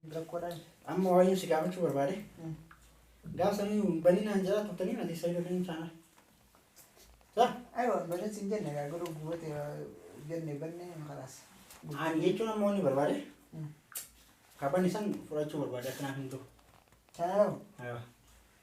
Rakkoodhaan. Amma waayeen si gaafachuu barbaade. Gaafa sanii hin banin naan jala turtanii ati isa ijoolleen isaanaa. Sa? Aywa banin sin jenne gaa garuu gubate jenne banne kalaas. Ani jechuun amma wanni barbaade. Kaban isan fudhachuu barbaade akkanaa hin ta'u. Sana ta'u. Aywa.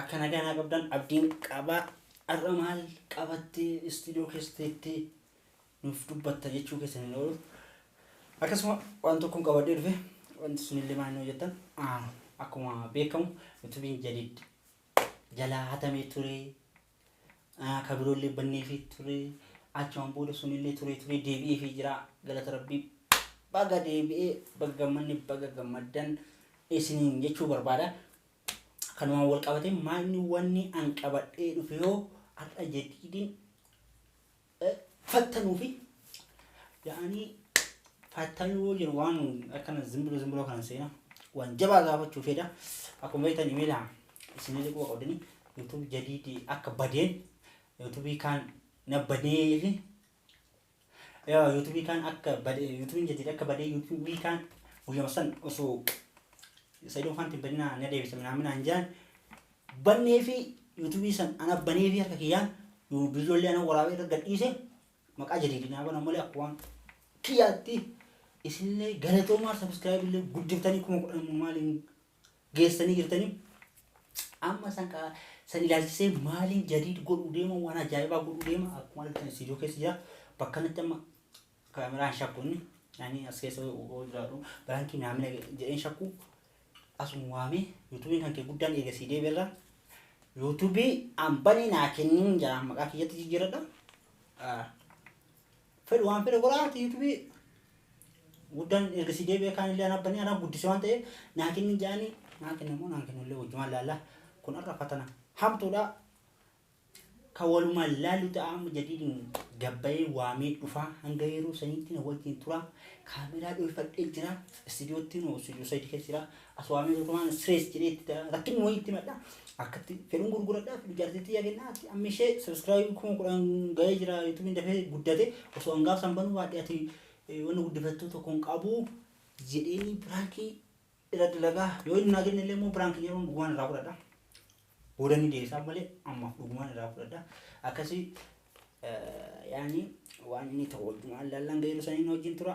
Akka nagaa naa qabdan abdiin qaba. Har'a maal qabattee istuudiyoo keessa teettee nuuf dubbatta jechuu keessan hin oolu. Akkasuma waan tokkoon qabadhee dhufe wanti sunillee maal noo jettan ah, akkuma beekamu yuutuubiin jadiid jalaa hatamee ture ah, ka biroollee banneefii ture achumaan booda sunillee turee turee deebi'eefii jira galata rabbii baga deebi'ee baga gammanne baga gammaddan isiniin jechuu barbaada. kanumaan wal qabatee maalni wanni an qabadhee dhufe yoo har'a jadiidin fattanuu fi yaa'anii fattanuu yoo jiru waan akkana zimbiroo zimbiroo kana seena waan jabaa gaafachuu fedha akkuma beektan imeela isinillee quba qabdanii yuutuubii jadiidii akka badeen yuutuubii kaan na badee fi Yaa yuutubii kaan akka badee yuutubiin jadid akka badee yuutubii kaan guyyama san osoo saidoo faanti hin badinaa na deebisa minaamin aan jaan bannee fi yuutubii san ana banee fi harka kiyyaan biyyollee ana waraabee irra gadhiise maqaa jadidi naa bana malee akka waan kiyyaatti isinillee galatoomaa sabiskiraayib illee guddiftanii kuma kudhan maaliin geessanii jirtanii amma san kaa san ilaalchisee maaliin jadiid godhuu deema waan ajaa'ibaa godhuu deema akkuma argitan istiidiyoo keessa jira bakka kanatti amma kaameraan shakku inni ani as keessa oo jiraadhu biraankiin naamina jedheen shakku asuma waamee yuutuubiin kan kee guddaan eegasii deebiirra yuutuubii ambanii naa kenniin jira maqaa kiyyatti jijjiiradha. Ah, fedhu waan fedhe godha ati yutubi guddan erga si deebi'e kaan illee anaa bani anaa guddise waan ta'eef naa kenni ja'ani naa kenna moo naa kennu illee wajjumaan laalla kun har'a fatana hamtuudha ka walumaan laallu ta'a amma jadiidin gabbayee waamee dhufaa hanga yeroo saniitti na wajjin tura kaameraa dhoofadhee jira istidiyoottiin hoo istidiyoo sadii keessa jira As waamee tokko waan stress jedhee itti ta'a. Rakkinni wayii itti madda. Akkatti fedhuun gurguradhaaf ijaartii xiyyaa kennaa ati amma ishee subscribe kuma kudhan ga'ee jira yuutuubiin dafee guddate osoo hangaaf san banuu baadhee ati eh, wanna guddifattuu tokko hin qabu jedheenii biraankii irra dalagaa yoo inni naa kenne illee immoo biraankii jedhamu dhugumaan irraa fudhadha. Booda ni deebisaa malee ammaaf dhugumaan irraa fudhadha. Akkasii eh, yaani waan inni ta'u wajjumaan laallaan ga'eeru saniin wajjin tura.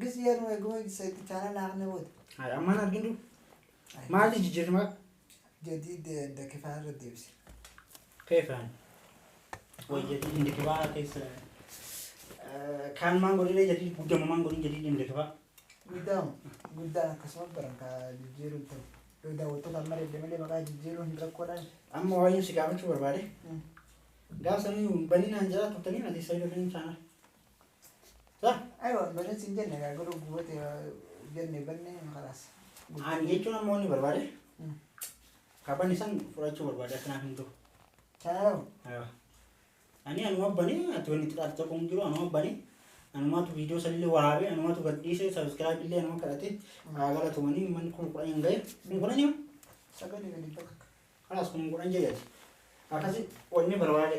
Gis yaa nu eeguma isa itti chaanal naaqne booda. Haadha ammaan argin jiru. Maali jijjiirma Jadiid dakifaa irra deebise. keefaan. Wajjati indikibaa keessa. Kaan maan godhine jadii guddama maan godhin jadii indikibaa. Guddaan guddaan akkasuma baran ka jijjiiruun ta'u. Yoo daawwattoota amma dedde malee maqaa jijjiiruun hin rakkoodhaan. Amma waayeen si gaafachuu barbaade. Gaaf sanii baninaan jira turtanii ati sayyidoo fi chaanal. Aywa banan sin jenne gaa garuu gubate jenne banne kalaas. Ani jechuun ammoo inni barbaade. Kaban isan fudhachuu barbaade akkanaa hin ta'u. Taa'u. Ani anuma bane ati wanni xiqqaatu tokko hin jiru anuma bane anumatu viidiyoo sanillee waraabe anumatu gadhiise sabiskiraayib illee anuma kadhate haa galatomanii manni kun kudhan hin gahe kun kudhan yoo Sagalee gadi bakka. kalaas kun kudhan jedhati akkasi wanni barbaade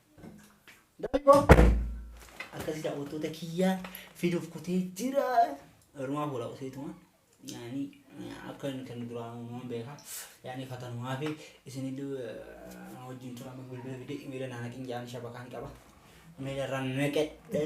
akkasi daawwattoota kiyyaa fiduuf kutee jira. Garumaa fuula qoseetuma yaani akka inni kan duraan uumaman beeka. Yaani fatanumaa fi isinillee na wajjin tura amma bilbila fide imeela naa naqin jaani shabakaan qaba. Imeela irraa naqadhe.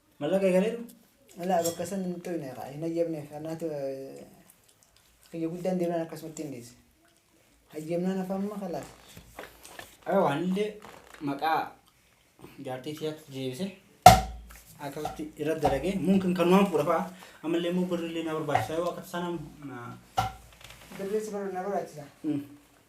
Mallaqa eegaleeru? Ilaa bakka san hin toyne kaa hin hayyamneef kanaatu kiyya guddaan deebi'an akkasumatti hin dhiise. Hayyamnaan afaan amma kalaas. Ayo anillee maqaa jaartii tiyaatti deebise akkasitti irra dalagee mumkin kanumaan fuudha fa'a ammallee immoo birrillee na barbaachisa yoo akka sanaan Birrii si barbaachisa.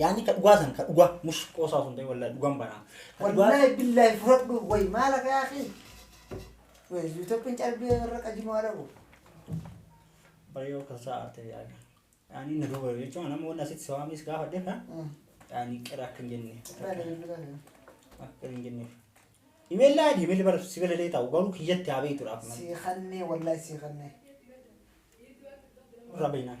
Yaani ka dhugaa san ka dhugaa mush qoosaa sun ta'e wallahi dhugaan banaa. Ka dhugaa- Wallahi billahi furadhu way maala ka akhi. Way yuutopin calbii warra qajimoo adabu. Bareeyoo kan saa arte yaani. Yaani na duuba jechuun nama wanna asitti si waamee si gaafadhe ha. Yaani qira akka hin jenne. Akka hin jenne. Imeel laadi imeel bara si bira ta'u garuu kiyyatti haa beektuudhaaf. Sii kannee wallahi sii kannee. Rabinaan.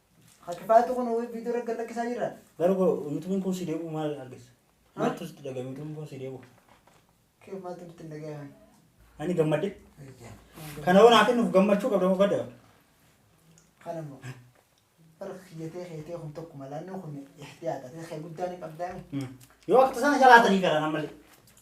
Ha kifaatu kun ho'i viidiyoo irra gallakkisaa jirra. Gara koo yuutubiin kun si deebi'u maal argisa? Maaltu sitti dhaga'ame yuutubiin kun si deebi'u? Kee maaltu nutti hin dhaga'ame? Ani gammadde. Kana hoo naa kennuuf gammachuu qabda moo gadda qabda? Kana immoo bara kiyyatee keetee kun tokko malaannoo kun ihtiyaata. Kee guddaan hin qabdaa. Yoo akka tasaa na jalaatanii garaa nammallee.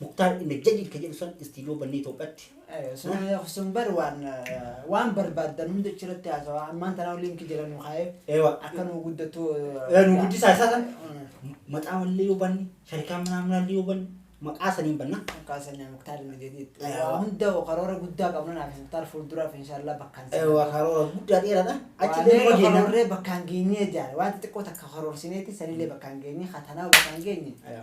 Muktaar in the jadid ka jedhu san istiidiyoo bannee Itoophiyaatti. Ayyo, sun ayyo, sun bar waan eh, waan barbaaddan hunda achirratti haasawaa. Ammaan tanaa linkii jala nu kaa'ee Eewa. akka nu guddatu. Eh, nu guddisaa isaa san. Mm. Maxaafallee yoo banne, sharikaa manaa manaallee yoo banne, maqaa saniin banna. Kaasanii muktaar inni jedhiit. Ayyo. Waa hunda karoora guddaa qabna naaf muktaar fuulduraaf inshaallah bakkaan si Eewa karoora guddaa dheeraadha. Achi Waa illee meeqa nama geenna. karoorree bakkaan geenyee jaare. Waan xixiqqoo takka karoorsineeti sanillee bakkaan geenye. Hatanaa bakkaan geenye. Ayyo.